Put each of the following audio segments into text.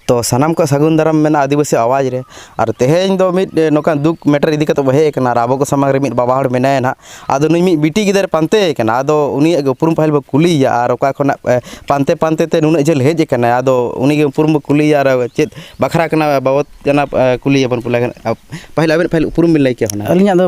ᱛᱚ ᱥᱟᱱᱟᱢ ᱠᱚ ᱥᱟᱹᱜᱩᱱ ᱫᱟᱨᱟᱢ ᱢᱮᱱᱟᱜᱼᱟ ᱟᱹᱫᱤᱵᱟᱹᱥᱤ ᱟᱣᱟᱡᱽ ᱨᱮ ᱟᱨ ᱛᱮᱦᱮᱧ ᱫᱚ ᱢᱤᱫ ᱱᱚᱝᱠᱟᱱ ᱫᱩᱠ ᱢᱮᱴᱟᱨ ᱤᱫᱤ ᱠᱟᱛᱮᱫ ᱵᱚᱱ ᱦᱮᱡ ᱟᱠᱟᱱᱟ ᱟᱨ ᱟᱵᱚ ᱠᱚ ᱥᱟᱢᱟᱝ ᱨᱮ ᱢᱤᱫ ᱵᱟᱵᱟ ᱦᱚᱲ ᱢᱮᱱᱟᱭᱟ ᱱᱟᱦᱟᱜ ᱟᱫᱚ ᱱᱩᱭ ᱢᱤᱫ ᱵᱤᱴᱤ ᱜᱤᱫᱟᱹᱨ ᱯᱟᱱᱛᱮᱭᱮ ᱠᱟᱱᱟ ᱟᱫᱚ ᱩᱱᱤᱭᱟᱜ ᱜᱮ ᱩᱯᱨᱩᱢ ᱯᱟᱹᱦᱤᱞ ᱵᱚᱱ ᱠᱩᱞᱤᱭᱮᱭᱟ ᱟᱨ ᱚᱠᱟ ᱠᱷᱚᱱᱟᱜ ᱯᱟᱱᱛᱮ ᱯᱟᱱᱛᱮ ᱛᱮ ᱱᱩᱱᱟᱹᱜ ᱡᱷᱟᱹᱞ ᱦᱮᱡ ᱟᱠᱟᱱᱟᱭ ᱟᱫᱚ ᱩᱱᱤ ᱜᱮ ᱩᱯᱨᱩᱢ ᱵᱚᱱ ᱠᱩᱞᱤᱭᱮᱭᱟ ᱟᱨ ᱪᱮᱫ ᱵᱟᱠᱷᱨᱟ ᱠᱟᱱᱟ ᱵᱟᱵᱚᱫ ᱠᱟᱱᱟ ᱠᱩᱞᱤᱭᱮᱭᱟ ᱵᱚᱱ ᱯᱟᱹᱦᱤᱞ ᱟᱵᱮᱱ ᱯᱟᱹᱦᱤᱞ ᱩᱯᱨᱩᱢ ᱵᱮᱱ ᱞᱟᱹᱭ ᱠᱮᱭᱟ ᱦᱩᱱᱟᱹᱝ ᱟᱹᱞᱤᱧᱟᱜ ᱫᱚ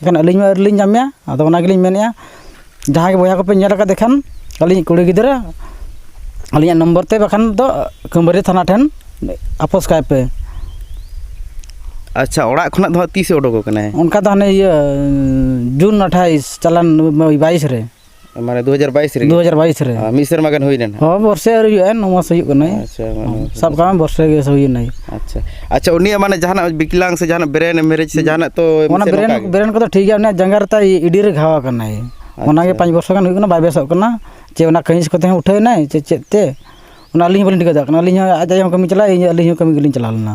ᱮᱱᱠᱷᱟᱱ ᱟᱹᱞᱤᱧ ᱢᱟ ᱟᱹᱣᱨᱤᱞᱤᱧ ᱧᱟᱢᱮᱭᱟ ᱟᱫᱚ ᱚᱱᱟ ᱜᱮᱞᱤᱧ ᱢᱮᱱᱮᱫᱼᱟ ᱡᱟᱦᱟᱸ ᱜᱮ ᱵᱚᱭᱦᱟ ᱠᱚᱯᱮ ᱧᱮᱞ ᱟᱠᱟᱫᱮ ᱠᱷᱟᱱ ᱟᱹᱞᱤᱧᱤᱡ ᱠᱩᱲᱤ ᱜᱤᱫᱽᱨᱟᱹ ᱟᱹᱞᱤᱧᱟᱜ ᱱᱚᱢᱵᱚᱨ ᱛᱮ ᱵᱟᱠᱷᱟᱱ ᱫᱚ ᱠᱟᱹᱢᱟᱹᱨᱤ ᱛᱷᱟᱱᱟ ᱴᱷᱮᱱ ᱟᱯᱚᱥ ᱠᱟᱭ ᱯᱮ ᱟᱪᱪᱷᱟ ᱚᱲᱟᱜ ᱠᱷᱚᱱᱟᱜ ᱫᱚ ᱦᱟᱸᱜ ᱛᱤᱥᱮ ᱩᱰᱩᱠ ᱟᱠᱟᱱᱟᱭ ᱚᱱᱠᱟ ᱫᱚ ᱦᱟᱱᱮ ᱤᱭᱟᱹ ᱡᱩᱱ ᱟᱴᱷᱟᱥ ᱪᱟᱞᱟᱣᱮᱱ ᱵᱟᱭᱤᱥ ᱨᱮ ᱢᱟᱱᱮ ᱫᱩ ᱦᱟᱡᱟᱨ ᱵᱟᱭᱤᱥ ᱨᱮ ᱫᱩ ᱦᱟᱡᱟᱨ ᱵᱟᱭᱤᱥ ᱨᱮ ᱢᱤᱫ ᱥᱮᱨᱢᱟ ᱜᱟᱱ ᱦᱩᱭ ᱞᱮᱱᱟ ᱦᱚᱸ ᱵᱚᱨᱥᱮ ᱟᱹᱣᱨᱤ ᱦᱩᱭᱩᱜᱼᱟ ᱱᱚ ᱢᱟᱥ ᱦᱩᱭᱩᱜ ᱠᱟᱱᱟ ᱟᱪᱪᱷᱟ ᱥᱟᱵ ᱠᱟᱜ ᱢᱮ ᱵᱚᱨᱥᱮ ᱜᱮ ᱦᱩᱭᱱᱟ ᱟᱪᱪᱷᱟ ᱟᱪᱪᱷᱟ ᱩᱱᱤᱭᱟᱜ ᱢᱟᱱᱮ ᱡᱟᱦᱟᱱᱟᱜ ᱵᱤᱠᱞᱟᱝ ᱥᱮ ᱡᱟᱦᱟᱱᱟᱜ ᱵᱨᱮᱱ ᱢᱮᱨᱮᱡᱽ ᱥᱮ ᱡᱟᱦᱟᱱᱟᱜ ᱛᱚ ᱚᱱᱟ ᱵᱨᱮᱱ ᱵᱨᱮᱱ ᱠᱚᱫᱚ ᱴᱷᱤᱠ ᱜᱮᱭᱟ ᱩᱱᱤᱭᱟᱜ ᱡᱟᱸᱜᱟ ᱨᱮ ᱛᱟᱭ ᱤᱰᱤ ᱨᱮ ᱜᱷᱟᱣ ᱟᱠᱟᱱᱟᱭ ᱚᱱᱟᱜᱮ ᱯᱟᱸᱪ ᱵᱚᱨᱥᱚ ᱜᱟᱱ ᱦᱩᱭᱩᱜ ᱠᱟᱱᱟ ᱵᱟᱭ ᱵᱮᱥᱚᱜ ᱠᱟᱱᱟ ᱪᱮ ᱚᱱᱟ ᱠᱟᱹᱦᱤᱥ ᱠᱚᱛᱮ ᱦᱚᱸ ᱩᱴᱷᱟᱹᱣ ᱮᱱᱟᱭ ᱪᱮ ᱪᱮᱫ ᱛᱮ ᱚᱱᱟ ᱟᱹᱞᱤᱧ ᱦᱚᱸ ᱵᱟᱹᱞᱤᱧ ᱴᱷᱤᱠᱟᱹ ᱫᱟᱲᱮᱭᱟᱜ ᱠᱟᱱᱟ ᱟᱹᱞᱤᱧ ᱦᱚᱸ ᱟᱡ ᱟᱡ ᱦᱚᱸ ᱠᱟᱹᱢᱤ ᱪᱟᱞᱟᱜᱼᱟ ᱟᱹᱞᱤᱧ ᱦᱚᱸ ᱠᱟᱹᱢᱤ ᱜᱮᱞᱤᱧ ᱪᱟᱞᱟᱣ ᱞᱮᱱᱟ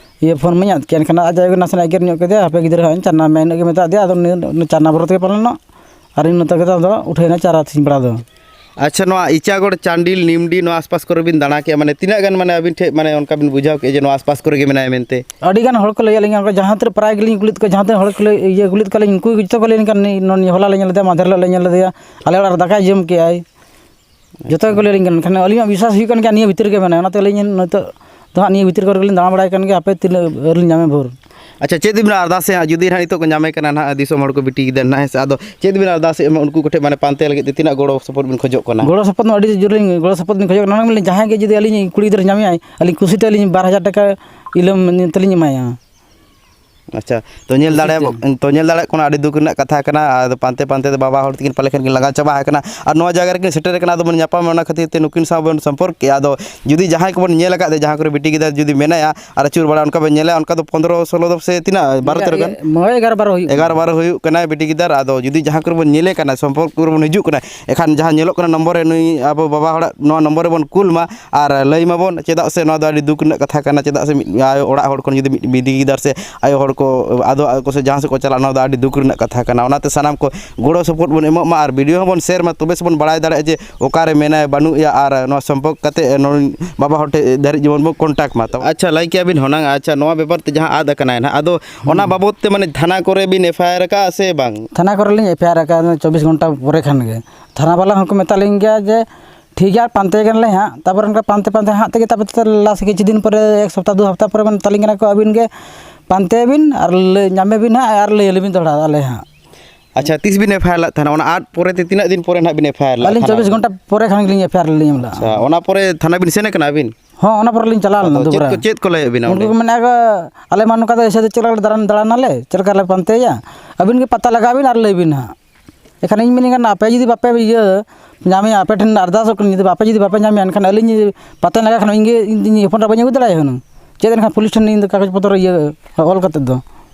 ᱤᱭᱟᱹ ᱯᱷᱳᱱ ᱢᱟᱧ ᱟᱫ ᱠᱮᱫ ᱮᱱᱠᱷᱟᱱ ᱟᱡ ᱟᱭᱳ ᱱᱟᱥᱮᱱᱟᱜ ᱮᱜᱮᱨ ᱧᱚᱜ ᱠᱮᱫᱮᱭᱟᱭ ᱦᱟᱯᱮ ᱜᱤᱫᱽᱨᱟᱹ ᱦᱟᱸᱜ ᱤᱧ ᱪᱟᱨ ᱱᱟᱢᱵᱟᱨ ᱤᱱᱟᱹᱜ ᱜᱮ ᱢᱮᱛᱟ ᱫᱮᱭᱟ ᱟᱫᱚ ᱩᱱᱤ ᱪᱟᱨ ᱱᱟᱢᱵᱟᱨ ᱛᱮᱜᱮ ᱯᱟᱞᱮᱱᱚᱜ ᱟᱨ ᱤᱧ ᱢᱮᱛᱟ ᱫᱮᱭᱟ ᱟᱫᱚ ᱩᱴᱷᱟᱹᱣ ᱮᱱᱟ ᱪᱟᱨ ᱟᱹᱛᱤᱧ ᱵᱮᱲᱟ ᱫᱚ ᱟᱪᱪᱷᱟ ᱱᱚᱣᱟ ᱤᱪᱟᱜᱚᱲ ᱪᱟᱱᱰᱤᱞ ᱱᱤᱢᱰᱤ ᱱᱚᱣᱟ ᱟᱥ ᱯᱟᱥ ᱠᱚᱨᱮ ᱵᱤᱱ ᱫᱟᱬᱟ ᱠᱮᱜᱼᱟ ᱢᱟᱱᱮ ᱛᱤᱱᱟᱹᱜ ᱜᱟᱱ ᱢᱟᱱᱮ ᱟᱹᱵᱤᱱ ᱴᱷᱮᱱ ᱢᱟᱱᱮ ᱚᱱᱠᱟ ᱵᱤᱱ ᱵᱩᱡᱷᱟᱹᱣ ᱠᱮᱜᱼᱟ ᱡᱮ ᱱᱚᱣᱟ ᱟᱥ ᱯᱟᱥ ᱠᱚᱨᱮ ᱜᱮ ᱢᱮᱱᱟᱭᱟ ᱢᱮᱱᱛᱮ ᱟᱹᱰᱤ ᱜᱟᱱ ᱦᱚᱲ ᱠᱚ ᱞᱟᱹᱭᱟᱫ ᱞᱤᱧᱟᱹ ᱚᱱᱠᱟ ᱡᱟᱦᱟᱸ ᱛᱤᱱᱟᱹᱜ ᱯᱨᱟᱭ ᱜᱮᱞᱤᱧ ᱠᱩᱞᱤᱭᱮᱫ ᱠᱚᱣᱟ ᱡᱟᱦᱟᱸ ᱛᱤᱱᱟᱹᱜ ᱦᱚᱲ ᱠᱚ ᱞᱟᱹᱭ ᱤᱭᱟᱹ ᱠᱩᱞᱤᱭᱮᱫ ᱠᱚᱣᱟ ᱞᱤᱧ ᱩᱱᱠᱩ ᱜᱮ ᱡᱚᱛᱚ ᱠᱚ ᱞᱟᱹᱭᱟᱹᱧ ᱠᱟᱱᱟ ᱱᱩᱭ ᱦᱚᱞᱟ ᱞᱮ ᱧᱮᱞ ᱞᱮᱫᱮᱭᱟ ᱢᱟᱫᱷᱮᱨ ᱦᱤᱞᱳᱜ ᱞᱮ ᱧᱮᱞ ᱞᱮᱫᱮᱭᱟ ᱟᱞᱮ ᱚᱲᱟᱜ ᱨᱮ ᱫᱟᱠᱟᱭ ᱡᱚᱢ ᱠᱮᱜᱼᱟᱭ ᱡᱚᱛᱚ ᱜᱮᱠᱚ ᱞᱟᱹᱭᱟᱞᱤᱧ ᱠᱟᱱᱟ ᱢᱮᱱᱠᱷᱟᱱ ᱟᱹᱞᱤᱧᱟᱜ ᱵᱤᱥᱥᱟᱥ ᱦᱩᱭᱩᱜ ᱠᱟᱱ ᱜᱮᱭᱟ ᱱᱤᱭᱟᱹ ᱵᱷᱤᱛᱤᱨ ᱨᱮᱜᱮ ᱢᱮᱱᱟᱭᱟ ᱚᱱᱟᱛᱮ ᱟᱹᱞᱤᱧ ᱱᱤᱛᱚᱜ ᱫᱚ ᱦᱟᱸᱜ ᱱᱤᱭᱟᱹ ᱵᱷᱤᱛᱤᱨ ᱠᱚᱨᱮ ᱜᱮᱞᱤᱧ ᱫᱟᱬᱟ ᱵᱟᱲᱟᱭ ᱠᱟᱱ ᱜᱮᱭᱟ ᱦᱟᱯᱮ ᱛᱤᱱᱟᱹᱜ ᱵᱷᱳᱨ ᱞᱤᱧ ᱧᱟᱢᱮᱭᱟ ᱵᱷᱳᱨ ᱟᱪᱪᱷᱟ ᱪᱮᱫ ᱵᱤᱱ ᱟᱨᱫᱟᱥᱮᱜᱼᱟ ᱡᱩᱫᱤ ᱦᱟᱸᱜ ᱱᱤᱛᱚᱜ ᱠᱚ ᱧᱟᱢᱮ ᱠᱟᱱᱟ ᱦᱟᱸᱜ ᱫᱤᱥᱚᱢ ᱦᱚᱲ ᱠᱚ ᱵᱤᱴᱤ ᱠᱮᱫᱟ ᱦᱟᱸᱜ ᱦᱮᱸ ᱥᱮ ᱟᱫᱚ ᱪᱮᱫ ᱵᱤᱱ ᱟᱨᱫᱟᱥᱮᱜᱼᱟ ᱢᱟᱱᱮ ᱩᱱᱠᱩ ᱠᱚᱴᱷᱮᱱ ᱢᱟᱱᱮ ᱯᱟᱱᱛᱮ ᱞᱟᱹᱜᱤᱫ ᱛᱮ ᱛᱤᱱᱟᱹᱜ ᱜᱚᱲᱚ ᱥᱚᱯᱚᱦᱚᱫ ᱵᱤᱱ ᱠᱷᱚᱡᱚᱜ ᱠᱟᱱᱟ ᱜᱚᱲᱚ ᱥᱚᱯᱚᱦᱚᱫ ᱢᱟ ᱟᱹᱰᱤ ᱡᱳᱨ ᱞᱤᱧ ᱜᱚᱲᱚ ᱥᱚᱯᱚᱦᱚᱫ ᱞᱤᱧ ᱠᱷᱚᱡᱚᱜ ᱠᱟᱱᱟ ᱚᱱᱟ ᱜᱮᱞᱤᱧ ᱡᱟᱦᱟᱸᱭ ᱜᱮ ᱡᱩᱫᱤ ᱟᱹᱞᱤᱧᱤᱡ ᱠᱩᱲᱤ ᱜᱤᱫᱽᱨᱟᱹ ᱧᱟᱢᱮᱭᱟᱭ ᱟᱹᱞᱤᱧ ᱠᱩᱥᱤᱛᱮ ᱟᱹᱞᱤᱧ ᱵᱟᱨ ᱦᱟᱡᱟᱨ ᱴᱟᱠᱟ ᱤᱞᱟᱹᱢ ᱛᱮᱞᱤᱧ ᱮᱢᱟᱭᱟ ᱟᱪᱪᱷᱟ ᱛᱚ ᱧᱮᱞ ᱫᱟᱲᱮ ᱛᱚ ᱧᱮᱞ ᱫᱟᱲᱮᱭᱟᱜ ᱠᱟᱱᱟ ᱟᱹᱰᱤ ᱫᱩᱠ ᱨᱮᱱᱟᱜ ᱠᱟᱛᱷᱟ ᱠᱟᱱᱟ ᱟᱫᱚ ᱯᱟᱱᱛᱮ ᱯᱟᱱᱛᱮ ᱛᱮ ᱵᱟᱵᱟ ᱦᱚᱲ ᱛᱟᱹᱠᱤᱱ ᱯᱟᱞᱮ ᱠᱷᱟᱱ ᱠᱤᱱ ᱞᱟᱸᱜᱟ ᱪᱟᱵᱟ ᱟᱠᱟᱱᱟ ᱟᱨ ᱱᱚᱣᱟ ᱡᱟᱭᱜᱟ ᱨᱮᱠᱤᱱ ᱥᱮᱴᱮᱨ ᱟᱠᱟᱱᱟ ᱟᱫᱚ ᱵᱚᱱ ᱧᱟᱯᱟᱢᱟ ᱚᱱᱟ ᱠᱷᱟᱹᱛᱤᱨ ᱛᱮ ᱱᱩᱠᱤᱱ ᱥᱟᱶ ᱵᱚᱱ ᱥᱚᱢᱯᱚᱨᱠ ᱠᱮᱜᱼᱟ ᱟᱫᱚ ᱡᱩᱫᱤ ᱡᱟᱦᱟᱸᱭ ᱠᱚᱵᱚᱱ ᱧᱮᱞ ᱟᱠᱟᱫ ᱫᱚ ᱡᱟᱦᱟᱸ ᱠᱚᱨᱮᱜ ᱵᱤᱴᱤ ᱜᱤᱫᱟᱹᱨ ᱡᱩᱫᱤ ᱢᱮᱱᱟᱭᱟ ᱟᱨ ᱟᱹᱪᱩᱨ ᱵᱟᱲᱟ ᱚᱱᱠᱟ ᱵᱚᱱ ᱧᱮᱞᱮᱭᱟ ᱚᱱᱠᱟ ᱫᱚ ᱯᱚᱸᱫᱽᱨᱚ ᱥᱳᱞᱳ ᱫᱚ ᱥᱮ ᱛᱤᱱᱟᱹᱜ ᱵᱟᱨᱚ ᱛᱮᱨᱚ ᱜᱟᱱ ᱦᱳᱭ ᱮᱜᱟᱨᱚ ᱵᱟᱨᱚ ᱦᱩᱭᱩᱜ ᱠᱟᱱᱟ ᱮᱜᱟᱨᱚ ᱵᱟᱨᱚ ᱦᱩᱭᱩᱜ ᱠᱟᱱᱟᱭ ᱵᱤᱴᱤ ᱜᱤᱫᱟᱹᱨ ᱟᱫᱚ ᱡᱩᱫᱤ ᱡᱟᱦᱟᱸ ᱠᱚᱨᱮᱜ ᱵᱚᱱ ᱧᱮᱞᱮ ᱠᱟᱱᱟ ᱥᱚᱢᱯᱚᱨᱠ ᱠᱚᱨᱮᱜ ᱵᱚᱱ ᱦᱤᱡᱩᱜ ᱠᱟᱱᱟ ᱮᱠᱷᱟᱱ ᱡᱟᱦᱟᱸ ᱧᱮᱞᱚᱜ ᱠᱟᱱᱟ ᱱᱚᱢᱵᱚᱨ ᱨᱮ ᱱᱩᱭ ᱟᱵᱚ ᱵᱟᱵᱟ ᱦᱚᱲᱟᱜ ᱱᱚᱣᱟ ᱱᱚᱢᱵᱚᱨ ᱨᱮᱵᱚᱱ ᱠᱩᱞ ᱢᱟ ᱟᱨ ᱞᱟᱹᱭ ᱢᱟᱵᱚᱱ ᱪᱮᱫᱟᱜ ᱥᱮ ᱱᱚᱣᱟ ᱫᱚ ᱟᱹᱰᱤ ᱫᱩᱠ ᱨᱮᱱᱟᱜ ᱠᱟᱛᱷᱟ ᱠᱟᱱᱟ ᱪᱮᱫᱟᱜ ᱥᱮ ᱢᱤᱫ ᱟᱭᱳ ᱚᱲᱟᱜ ᱦᱚᱲ ᱠᱷᱚᱱ ᱡᱩᱫᱤ ᱢᱤᱫᱴᱤᱡ ᱜᱤᱫᱟᱹᱨ ᱥᱮ ᱟᱭᱳ ᱦᱚᱲ ᱠᱚ ᱟᱫᱚᱜᱼᱟ ᱠᱚ ᱥᱮ ᱡᱟᱦᱟᱸ ᱥᱮᱫ ᱠᱚ ᱪᱟᱞᱟᱜᱼᱟ ᱱᱚᱣᱟ ᱫᱚ ᱟᱹᱰᱤ ᱫᱩᱠ ᱨᱮᱱᱟᱜ ᱠᱟᱛᱷᱟ ᱠᱟᱱᱟ ᱚᱱᱟᱛᱮ ᱥᱟᱱᱟᱢ ᱠᱚ ᱜᱚᱲᱚ ᱥᱚᱯᱚᱦᱚᱫ ᱵᱚᱱ ᱮᱢᱚᱜ ᱢᱟ ᱟᱨ ᱵᱷᱤᱰᱤᱭᱳ ᱦᱚᱸᱵᱚᱱ ᱥᱮᱭᱟᱨ ᱢᱟ ᱛᱚᱵᱮ ᱥᱮᱵᱚᱱ ᱵᱟᱲᱟᱭ ᱫᱟᱲᱮᱭᱟᱜᱼᱟ ᱡᱮ ᱚᱠᱟᱨᱮ ᱢᱮᱱᱟᱭᱟ ᱵᱟᱹᱱᱩᱜ ᱮᱭᱟ ᱟᱨ ᱱᱚᱣᱟ ᱥᱚᱢᱯᱚᱨᱠ ᱠᱟᱛᱮᱫ ᱱᱩᱭ ᱵᱟᱵᱟ ᱦᱚᱲ ᱴᱷᱮᱱ ᱫᱷᱟᱹᱨᱤᱡ ᱡᱮᱢᱚᱱ ᱵᱚᱱ ᱠᱚᱱᱴᱟᱠᱴ ᱢᱟ ᱟᱪᱪᱷᱟ ᱞᱟᱹᱭ ᱠᱮᱜᱼᱟ ᱵᱤᱱ ᱦᱩᱱᱟᱹᱝ ᱟᱪᱪᱷᱟ ᱱᱚᱣᱟ ᱵᱮᱯᱟᱨ ᱛᱮ ᱡᱟᱦᱟᱸ ᱟᱫ ᱠᱟᱱᱟᱭ ᱦᱟᱸᱜ ᱟᱫᱚ ᱚᱱᱟ ᱵᱟᱵᱚᱫ ᱛᱮ ᱢᱟᱱᱮ ᱛᱷᱟᱱᱟ ᱠᱚᱨᱮ ᱵᱤᱱ ᱮᱯᱷ ᱟᱭ ᱟᱨ ᱠᱟᱜᱼᱟ ᱥᱮ ᱵᱟᱝ ᱛᱷᱟᱱᱟ ᱠᱚᱨᱮ ᱞᱤᱧ ᱮᱯᱷ ᱟᱭ ᱟᱨ ᱠᱟᱜᱼᱟ ᱪᱚᱵᱵᱤᱥ ᱜᱷᱚᱱᱴᱟ ᱯᱚᱨᱮ ᱠᱷᱟᱱ ᱜᱮ ᱛᱷᱟᱱᱟ ᱵᱟᱞᱟ ᱦᱚᱸᱠᱚ ᱢᱮᱛᱟᱜ ᱞᱤᱧ ᱜᱮᱭᱟ ᱡᱮ ᱴᱷᱤᱠ ᱜᱮᱭᱟ ᱯᱟᱱᱛᱮ ᱠᱟᱱᱟᱞᱮ ᱦᱟᱸᱜ ᱛᱟᱨᱯᱚᱨᱮ ᱚᱱᱠᱟ ᱯᱟᱱᱛᱮ ᱯᱟᱱᱛᱮ ᱦᱟᱸᱜ ᱛᱮᱜᱮ ᱛᱟᱨᱯᱚᱨᱮ ᱞᱟᱥ ᱠᱤᱪᱷᱩ ᱫᱤᱱ ᱯᱚᱨᱮ ᱮᱠ ᱥᱚᱯᱛᱟᱦᱚ ᱫᱩ ᱥᱚᱯᱛᱟᱦᱚ ᱯᱚᱨᱮ ᱢᱮᱛᱟᱞᱤᱧ ᱠᱟᱱᱟ ᱠᱚ ᱟᱹᱵᱤᱱ ᱜᱮ ᱯᱟᱱᱛᱮᱭ ᱵᱤᱱ ᱟᱨ ᱞᱟᱹᱭ ᱧᱟᱢᱮ ᱵᱤᱱ ᱦᱟᱸᱜ ᱟᱨ ᱞᱟᱹᱭ ᱟᱹᱞᱤᱧ ᱵᱤᱱ ᱫᱚᱦᱲᱟ ᱟᱞᱮ ᱦᱟᱸᱜ ᱟᱪᱪᱷᱟ ᱛᱤᱥ ᱵᱤᱱ ᱮᱯᱷ ᱟᱭ ᱟᱨ ᱞᱮᱫ ᱛᱟᱦᱮᱱᱟ ᱚᱱᱟ ᱟᱫ ᱯᱚᱨᱮ ᱛᱮ ᱛᱤᱱᱟᱹᱜ ᱫᱤᱱ ᱯᱚᱨᱮ ᱦᱟᱸᱜ ᱵᱤᱱ ᱮᱯᱷ ᱟᱭ ᱟᱨ ᱞᱮᱫᱟ ᱟᱹᱞᱤᱧ ᱪᱚᱵᱵᱤᱥ ᱜᱷᱚᱱᱴᱟ ᱯᱚᱨᱮ ᱠᱷᱟᱱ ᱜᱮᱞᱤᱧ ᱮᱯᱷ ᱟᱭ ᱟᱨ ᱞᱤᱧ ᱮᱢ ᱞᱮᱫᱼᱟ ᱟᱪᱪᱷᱟ ᱚᱱᱟ ᱯᱚᱨᱮ ᱛᱷᱟᱱᱟ ᱵᱤᱱ ᱥᱮᱱ ᱠᱟᱱᱟ ᱟᱹᱵᱤᱱ ᱦᱚᱸ ᱚᱱᱟ ᱯᱚᱨᱮ ᱞᱤᱧ ᱪᱟᱞᱟᱣ ᱞᱮᱱᱟ ᱟᱫᱚ ᱪᱮᱫ ᱫᱩᱵᱽᱨᱟ ᱠᱚ ᱪᱮᱫ ᱠᱚ ᱞᱟᱹᱭᱮᱫ ᱵᱤᱱᱟ ᱩᱱᱠᱩ ᱚᱸᱰᱮ ᱠᱚ ᱢᱮᱱᱮᱫᱼᱟ ᱟᱞᱮ ᱢᱟ ᱱᱚᱝᱠᱟ ᱫᱚ ᱮᱭᱥᱮ ᱫᱚ ᱪᱮᱫ ᱞᱮᱠᱟ ᱞᱮ ᱫᱟᱬᱟᱱ ᱫᱟᱬᱟᱱᱟᱞᱮ ᱪᱮᱫ ᱞᱮᱠᱟ ᱞᱮ ᱯᱟᱱᱛᱮᱭᱟ ᱟᱹᱵᱤᱱ ᱜᱮ ᱯᱟᱛᱟ ᱞᱟᱜᱟᱣ ᱵᱤᱱ ᱟᱨ ᱞᱟᱹᱭ ᱵᱤᱱ ᱦᱟᱸᱜ ᱮᱱᱠᱷᱟᱱ ᱤᱧ ᱢᱮᱱᱮᱫ ᱠᱟᱱ ᱟᱯᱮ ᱡᱩᱫᱤ ᱵᱟᱯᱮ ᱤᱭᱟᱹ ᱧᱟᱢᱮᱭᱟ ᱟᱯᱮ ᱴᱷᱮᱱ ᱟᱨᱫᱟᱥᱚᱜ ᱠᱟᱹᱱᱟᱹᱧ ᱡᱩᱫᱤ ᱟᱯᱮ ᱡᱩᱫᱤ ᱵᱟᱯᱮ ᱧᱟᱢᱮᱭᱟ ᱮᱱᱠᱷᱟᱱ ᱟᱹᱞᱤᱧ ᱡᱩᱫᱤ ᱯᱟᱛᱟᱧ ᱞᱟᱜᱟᱣ ᱠᱷᱟᱱ ᱤᱧ ᱜᱮ ᱤᱧ ᱦᱚᱯᱚᱱ ᱮᱨᱟ ᱵᱟᱹᱧ ᱟᱹᱜᱩ ᱫᱟᱲᱮᱭᱟᱭᱟ ᱦᱩᱱᱟᱹᱝ ᱪᱮᱫ ᱮᱱᱠᱷᱟᱱ ᱯᱩᱞᱤᱥ ᱴᱷᱮᱱ ᱤᱧ ᱫᱚ ᱠᱟᱜᱚᱡᱽ ᱯᱚᱛᱨᱚ ᱤᱭᱟᱹ ᱚᱞ ᱠᱟᱛᱮᱫ ᱫᱚ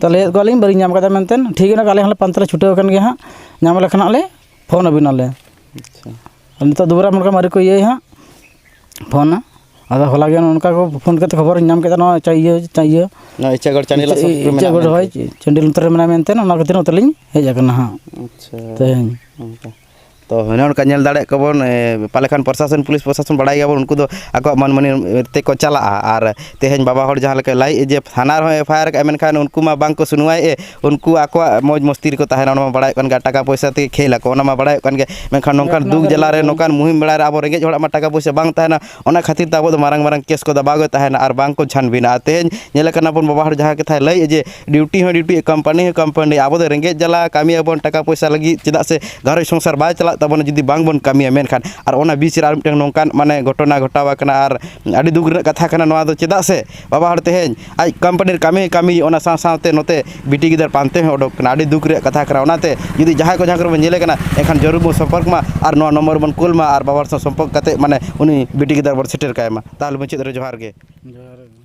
ᱛᱚ ᱞᱟᱹᱭᱮᱫ ᱠᱚᱣᱟᱞᱤᱧ ᱵᱟᱹᱞᱤᱧ ᱧᱟᱢ ᱠᱟᱫᱟ ᱢᱮᱱᱛᱮ ᱴᱷᱤᱠ ᱜᱮᱭᱟ ᱟᱞᱮ ᱦᱚᱸᱞᱮ ᱯᱟᱱᱛᱮ ᱞᱮ ᱪᱷᱩᱴᱟᱹᱣ ᱟᱠᱟᱱ ᱜᱮᱭᱟ ᱦᱟᱸᱜ ᱧᱟᱢ ᱞᱮᱠᱷᱟᱱ ᱦᱟᱸᱜ ᱞᱮ ᱯᱷᱳᱱ ᱟᱹᱵᱤᱱᱟᱞᱮ ᱟᱨ ᱱᱤᱛᱚᱜ ᱫᱩᱵᱽᱨᱟ ᱢᱩᱨᱢᱩ ᱟᱹᱣᱨᱤ ᱠᱚ ᱤᱭᱟᱹᱭᱟ ᱦᱟᱸᱜ ᱯᱷᱳᱱᱟ ᱟᱫᱚ ᱦᱚᱞᱟ ᱜᱮ ᱚᱱᱠᱟ ᱠᱚ ᱯᱷᱳᱱ ᱠᱟᱛᱮᱫ ᱠᱷᱚᱵᱚᱨᱤᱧ ᱧᱟᱢ ᱠᱮᱫᱟ ᱱᱚᱣᱟ ᱤᱭᱟᱹ ᱤᱭᱟᱹ ᱱᱚᱣᱟ ᱤᱪᱟᱹᱜᱚᱲ ᱪᱟᱸᱰᱤ ᱞᱟᱥᱮᱨ ᱨᱮ ᱢᱮᱱᱟᱜᱼᱟ ᱤᱪᱟᱹᱜᱚᱲ ᱦᱳᱭ ᱪᱟᱸᱰᱤᱞ ᱱᱚᱛᱮ ᱨᱮ ᱢᱮᱱᱟᱭᱟ ᱢᱮᱱᱛᱮ ᱚᱱᱟ ᱠᱷᱟᱹᱛᱤᱨ ᱱᱚᱛᱮ ᱞᱤᱧ ᱦᱮᱡ ᱟᱠᱟᱱᱟ ᱦᱟᱸᱜ ᱟᱪᱪᱷᱟ ᱛᱮᱦᱮᱧ ᱛᱚ ᱦᱚᱱᱮ ᱚᱱᱠᱟ ᱧᱮᱞ ᱫᱟᱲᱮᱭᱟᱜ ᱠᱚᱣᱟ ᱵᱚᱱ ᱯᱟᱞᱮ ᱠᱷᱟᱱ ᱯᱨᱚᱥᱟᱥᱚᱱ ᱯᱩᱞᱤᱥ ᱯᱨᱚᱥᱟᱥᱚᱱ ᱵᱟᱲᱟᱭ ᱜᱮᱭᱟ ᱵᱚᱱ ᱩᱱᱠᱩ ᱫᱚ ᱟᱠᱚᱣᱟᱜ ᱢᱟᱹᱱ ᱢᱟᱹᱱᱤ ᱛᱮᱠᱚ ᱪᱟᱞᱟᱜᱼᱟ ᱟᱨ ᱛᱮᱦᱮᱧ ᱵᱟᱵᱟ ᱦᱚᱲ ᱡᱟᱦᱟᱸ ᱞᱮᱠᱟᱭ ᱞᱟᱹᱭᱮᱫᱼᱟ ᱡᱮ ᱛᱷᱟᱱᱟ ᱨᱮᱦᱚᱸᱭ ᱮᱯᱷ ᱟᱭ ᱟᱨ ᱠᱟᱜᱼᱟ ᱢᱮᱱᱠᱷᱟᱱ ᱩᱱᱠᱩ ᱢᱟ ᱵᱟᱝ ᱠᱚ ᱥᱩᱱᱩᱣᱟᱭᱮᱫᱼᱟ ᱩᱱᱠᱩ ᱟᱠᱚᱣᱟᱜ ᱢᱚᱡᱽ ᱢᱚᱥᱛᱤ ᱨᱮᱠᱚ ᱛᱟᱦᱮᱱᱟ ᱚᱱᱟ ᱢᱟ ᱵᱟᱲᱟᱭ ᱠᱟᱱ ᱜᱮᱭᱟ ᱴᱟᱠᱟ ᱯᱚᱭᱥᱟ ᱛᱮᱜᱮ ᱠᱷᱮᱞ ᱟᱠᱚ ᱚᱱᱟ ᱢᱟ ᱵᱟᱲᱟᱭᱚᱜ ᱠᱟᱱ ᱜᱮᱭᱟ ᱢᱮᱱᱠᱷᱟᱱ ᱱᱚᱝᱠᱟᱱ ᱫᱩᱠ ᱡᱟᱞᱟ ᱨᱮ ᱱᱚᱝᱠᱟᱱ ᱢᱩᱦᱤᱢ ᱵᱮᱲᱟ ᱨᱮ ᱟᱵᱚ ᱨᱮᱸᱜᱮᱡ ᱦᱚᱲᱟᱜ ᱢᱟ ᱴᱟᱠᱟ ᱯᱚᱭᱥᱟ ᱵᱟᱝ ᱛᱟᱦᱮᱱᱟ ᱚᱱᱟ ᱠᱷᱟᱹᱛᱤᱨ ᱛᱮ ᱟᱵᱚ ᱫᱚ ᱢᱟᱨᱟᱝ ᱢᱟᱨᱟᱝ ᱠᱮᱥ ᱠᱚᱫᱚ ᱵᱟᱝ ᱜᱮ ᱛᱟᱦᱮᱱᱟ ᱟᱨ ᱵᱟᱝ ᱠᱚ ᱪᱷᱟᱱᱵᱤᱱᱟ ᱟᱨ ᱛᱮᱦᱮᱧ ᱧᱮᱞᱮ ᱠᱟᱱᱟ ᱵᱚᱱ ᱵᱟᱵᱟ ᱦᱚᱲ ᱡᱟᱦᱟᱸ ᱠᱟᱛᱷᱟᱭ ᱞᱟᱹᱭᱮᱫ ᱡᱮ ᱰᱤᱭᱩᱴᱤ ᱦᱚᱸ ᱰᱤᱭᱩᱴᱤ ᱠᱚᱢᱯᱟᱱᱤ ᱦᱚᱸ ᱠᱚᱢᱯᱟᱱᱤ ᱟᱵᱚ ᱫᱚ ᱨᱮᱸᱜᱮᱡ ᱡᱟᱞᱟ ᱠᱟᱹᱢᱤᱭᱟᱵᱚᱱ ᱴᱟᱠᱟ ᱯᱚᱭᱥᱟ ᱞᱟᱹᱜᱤᱫ ᱪᱮᱫᱟᱜ ᱥᱮ ᱜᱷᱟᱨᱚᱸᱡᱽ ᱥᱚᱝᱥᱟᱨ ᱵᱟᱭ ᱪᱟᱞᱟᱜ ᱛᱟᱵᱚᱱᱟ ᱡᱩᱫᱤ ᱵᱟᱝ ᱵᱚᱱ ᱠᱟᱹᱢᱤᱭᱟ ᱢᱮᱱᱠᱷᱟᱱ ᱟᱨ ᱚᱱᱟ ᱵᱤᱪ ᱨᱮ ᱟᱨ ᱢᱤᱫᱴᱟᱝ ᱱᱚᱝᱠᱟᱱ ᱢᱟᱱᱮ ᱜᱷᱚᱴᱚᱱᱟ ᱜᱷᱚᱴᱟᱣ ᱠᱟᱱᱟ ᱟᱨ ᱟᱹᱰᱤ ᱫᱩᱠ ᱨᱮᱱᱟᱜ ᱠᱟᱛᱷᱟ ᱠᱟᱱᱟ ᱱᱚᱣᱟ ᱫᱚ ᱪᱮᱫᱟᱜ ᱥᱮ ᱵᱟᱵᱟ ᱦᱚᱲ ᱛᱮᱦᱮᱧ ᱟᱡ ᱠᱳᱢᱯᱟᱱᱤ ᱨᱮ ᱠᱟᱹᱢᱤ ᱠᱟᱹᱢᱤ ᱚᱱᱟ ᱥᱟᱶ ᱥᱟᱶᱛᱮ ᱱᱚᱛᱮ ᱵᱤᱴᱤ ᱜᱤᱫᱟᱹᱨ ᱯᱟᱱᱛᱮ ᱦᱚᱸ ᱩᱰᱩᱠ ᱠᱟᱱᱟ ᱟᱹᱰᱤ ᱫᱩᱠ ᱨᱮᱭᱟᱜ ᱠᱟᱛᱷᱟ ᱠᱟᱱᱟ ᱚᱱᱟᱛᱮ ᱡᱩᱫᱤ ᱡᱟᱦᱟᱸᱭ ᱠᱚ ᱡᱟᱦᱟᱸ ᱠᱚᱨᱮ ᱵᱚᱱ ᱧᱮᱞᱮ ᱠᱟᱱᱟ ᱮᱱᱠᱷᱟᱱ ᱡᱟᱹᱨᱩᱲ ᱵᱚᱱ ᱥᱚᱢᱯᱚᱨᱠ ᱢᱟ ᱟᱨ ᱱᱚᱣᱟ ᱱᱚᱢᱵᱚᱨ ᱵᱚᱱ ᱠᱩᱞ ᱢᱟ ᱟᱨ ᱵᱟᱵᱟ ᱦᱚᱲ ᱥᱟᱶ ᱥᱚᱢᱯᱚᱨᱠ ᱠᱟᱛᱮᱫ ᱢᱟᱱᱮ ᱩᱱᱤ ᱵᱤᱴᱤ ᱜᱤᱫᱟᱹᱨ ᱵᱚᱱ ᱥᱮᱴᱮᱨ ᱠᱟᱭ ᱢᱟ ᱛᱟᱦᱚᱞᱮ ᱢᱩᱪᱟᱹᱫ ᱨᱮ ᱡᱚᱦᱟᱨ ᱜᱮ ᱡᱚᱦᱟᱨ ᱜᱮ